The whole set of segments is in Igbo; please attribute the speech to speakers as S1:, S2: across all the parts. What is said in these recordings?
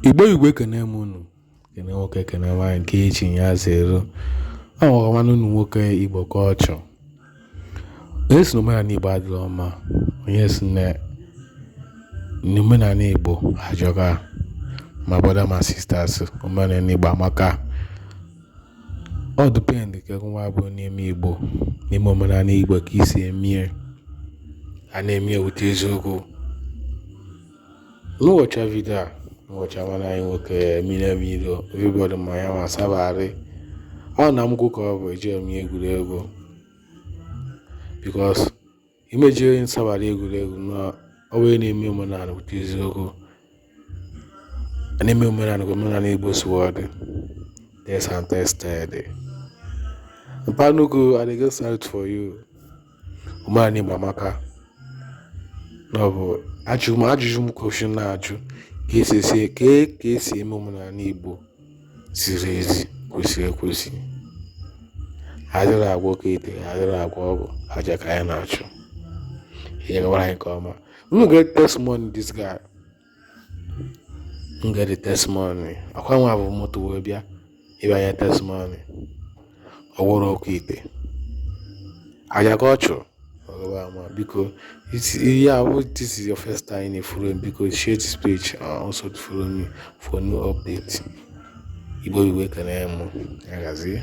S1: Igbo Igbo ekene m unu kene nwoke kene nwaanyị nke echi ya zero ọ wụkwa nwanne unu nwoke Igbo culture onye si na omenala Igbo adịrọ mma onye si na na omenala Igbo ajọka my brother my sisters omenala Igbo amaka ọ depend ka nwa bụ n'ime Igbo n'ime omenala Igbo ka e si eme ya a na-eme ya with eziokwu Unu watch video a unu watch nwanne anyị nwoke mmiri eme iro everybody ma ya ma sabari ọ na m ka ọ bụ ejighị m egwuregwu because imeji onye sabari egwuregwu na ọ bụghị na-eme omenala with eziokwu na-eme omenala ka omenala igbo si wee dị test and tested mpanuku i dey go search for you omenala Igbo amaka na ọ bụ ajụjụ m kwesịrị na-ajụ ka esi eme omenala Igbo ziri ezi kwesịrị ekwesị adịrị agwọ oke ite adịrị agwọ ọgwụ aja ka anyị na-achụ ihe gawara anyị nke ọma unu gee testimony this guy unu geedi testimony ọ kwa nwa a bu moto wee bịa ịbịa nye testimony ọ gwọrọ oke ite aja ka ọ chụrụ ọgaba ama biko isi- ihe a bụ this is your first time in our forum biko share this page and also follow me for new updates igbo igbo ekene m ya gazie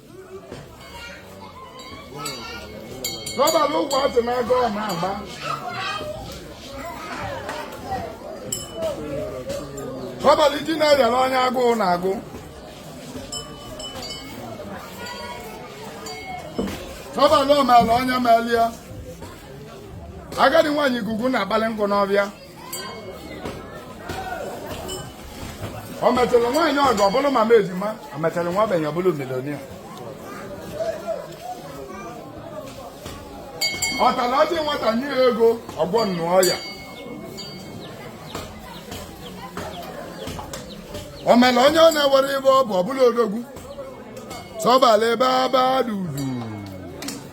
S2: rọba bụ ụgwọ ọtụ n'ego ọ na-agba rọba bụ iji na-eyere onye agụụ na-agụ rọba bụ omeela onye melie agadi nwaanyị igugu na-akpali nkụ n'ọfịa o metụrụ nwaanyị aga ọ bụrụ mama ejima o metụrụ nwa ogbenye ọ bụrụ millionaire ọtara ọjị nwata nye ya ego ọgwọ nnụ ọya o mere onye na-enwerọ ife ọ bụ ọ bụlụ odogwu sọbala ebe aba dudu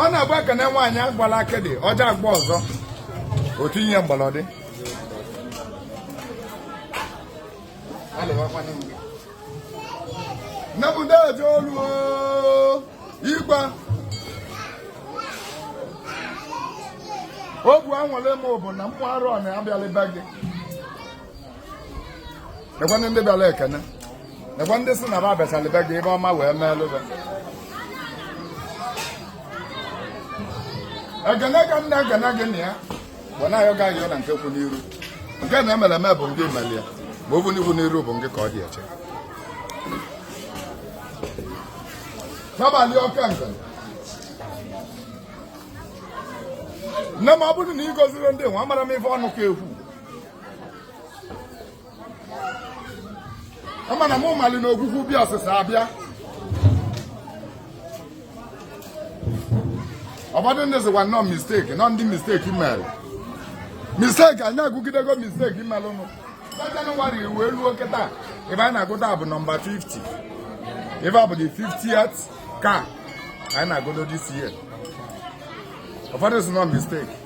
S2: ọ na-abụ e kenee nwaanyị gbọlụ akịdị ọ ja-agbọ ọzọ otu ihe mgbọlọdị nnapụta eje olu igwe obu anwale m bụ na mkpụ arụ ọ na-abịalịba gị nekwa ndị bịara ekene nekwa ndị sị na ba abịachala be gị ife ọma wee meelụ ba ekene ka m na-ekene gị na ya bụ na ayọ gaghị na nke kwụ n'iru nke na-emere eme bụ ndị imeli ya ma ọ bụ n'ihu n'iru bụ nke ka ọ dị eche n'abalị ọka nke nne m ọ bụrụ na ị gọziri ndị nwa amara m ife ọnụ ka ekwu mana mụ mali na okwukwu bịa ọsịsa abịa ụfọdụ ndị sịkwa na ọ mistake na ọ dị mistake mere mistake anyị agụgidego mistake merenụ na January wee luo kịta ife anyị na-agụta bụ nọmba 50 ife a bụ the 50th car anyị na-agọdo this year ụfọdụ sị na ọ mistake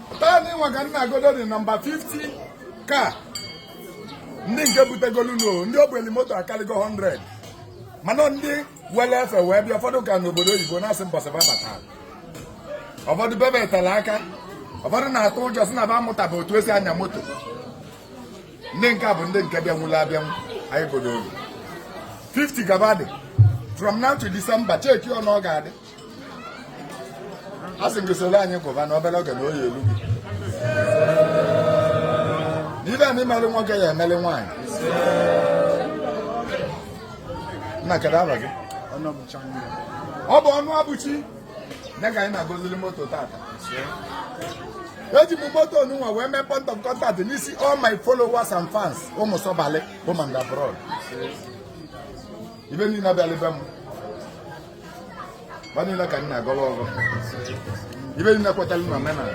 S2: taa nụnwa ka m na-agọdo the number 50 car ndị nke butegolu no ndị ogbeli moto akaligo 100 mana ndị nwere efe wee bịa ụfọdụ ka nọ obodo oyibo na-asị mbọsị ba bata ụfọdụ be ba tere aka ụfọdụ na-atụ ụjọ sị na ba amụtaba otu e si anya moto ndị nke a bụ ndị nke bịanwulu abịanwu anyị bodo oyi 50 ka ba dị from now to December cheki ọnụ ọ ga-adị a sị gị soro anyị gụba na obere oge na ọ ya-elu gị n'ife a na-emelụ nwoke ya-emelụ nwaanyị nna kedu afa gị ọ bụ Ọnụabụchi ya ka anyị na-agọziri moto tata eji m moto ọ nụnwa wee mee point of contact n'isi all my followers and fans ụmụ Sọbalị home and abroad ibe niile bịala be m ba niile ka m na-agọrọ ọfọ ibe niile kwetara na omenala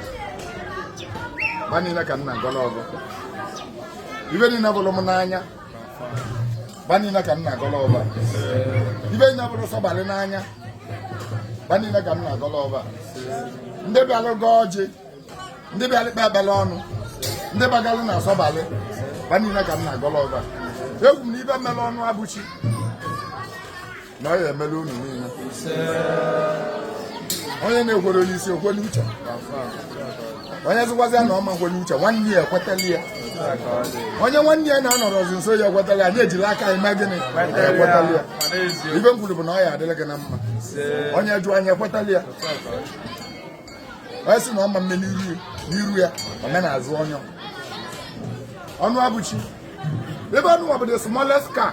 S2: ba niile ka m na-agọrọ ọfọ ibe niile fụrụ m n'anya ba niile ka m na-agọrọ ọfọ ibe niile fụrụ Sọbalị n'anya ba niile ka m na-agọrọ ọfọ ndị bịara gọọ ọjị ndị bịara ikpe ekpele ọnụ ndị bagara na Sọbalị ba niile ka m na-agọrọ ọfọ ekwuo m na ife mere Ọnụabụchi na ọ ya-emelụ unu niile onye na-ekwere onye sị ọ kwele uche onye sịkwazịa na ọ ma nkwele uche nwanne ya ekwetala ya onye nwanne ya na-anọrọzi nso ya ekwetala anyị ejila aka anyị mee gịnị ekwetala ya ife m kwuru bụ na ọ ya-adịlị gị na mma onye jụọ anyị ekwetala ya onye sị na ọ ma mme n'iru ya o mee n'azụ onye Ọnụabụchi ife ọ nụnwa bụ the smallest car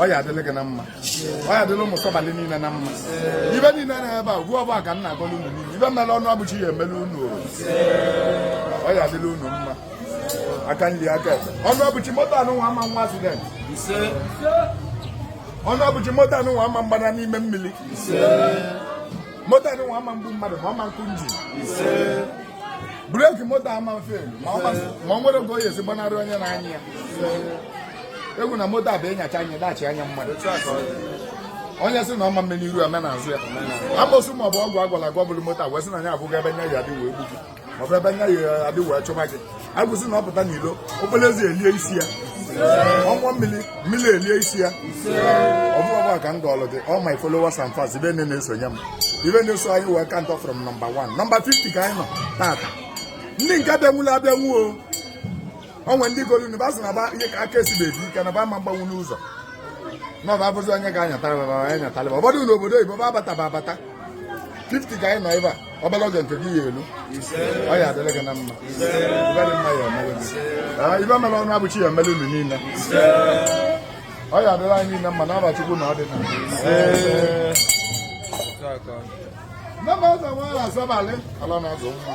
S2: ọ ya adịla gị na mma ọ ya adịla ụmụ sọbalị niile na mma ibe niile na ebe a ugwu ọbụla ka m na-agọla unu niile ife mere Ọnụabụchi ya emela unu ọ ya adịla unu mma aka nri aka ekpe Ọnụabụchi moto anụnwa ama nwe accident Ọnụabụchi moto anụnwa ama mgbada n'ime mmiri moto anụnwa ama mgbu mmadụ ma ọ ma nkụ njin breki moto ama mfe ma ọ nwere oge ọ ya-esi gbanarị onye na-anya ya egwu na moto a bụ ịnyacha anya dachi anya mmadụ onye sị na ọ ma mme n'iru eme n'azụ ya amosu ma ọ bụ ọgwụ agwọlụ agwọ bụrụ moto a wee sị na nya abụghị ebe nya ya adị wee gbu gị ma ọ bụ ebe nya ya adị wee chụba gị agwụsị na ọ pụta n'ilo okpolo ezi elie isi ya ọnwa mmiri mmiri elie isi ya ọ bụ ọfọ ka m gọọlụ gị all my followers and fans ibe na-esonye m ibe na-eso anyị wee kantọ from number 1 number 50 ka anyị nọ tata ndị nke abịanwula abịanwu o o nwe ndị golu na ba sị na ba ihe ka aka esibeghị ike na ba ma mgbanwu n'ụzọ na ọ bụ abụzi onye ga-anyatalị ba onye nyatalị ba ụfọdụ na obodo oyibo ba abata ba abata 50 ka anyị nọ ebe a obere oge nke gị ya elu ọ ya adịrị gị na mma ife dị mma ya emere gị Ee, ife mere Ọnụabụchi ya emere unu niile ọ ya adịrị anyị niile mma na afa Chukwu na ọ dị na Nne m ọzọ nwa ala asabalị ala na-azụ nwa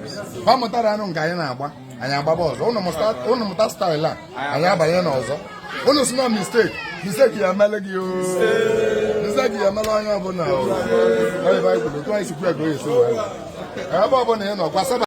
S2: ọ mụtara anụ nke anyị na-agba anyị agbaba ọzọ ụnụ mụta staịlụ a anyị abanye n'ọzọ ụnụ si na mistake mistake ya emele gị o mistake ya emele onye ọbụla o ebe anyị kwuru otu anyị si kwu ego ya esi ebe ọbụla ị nọ gwasaba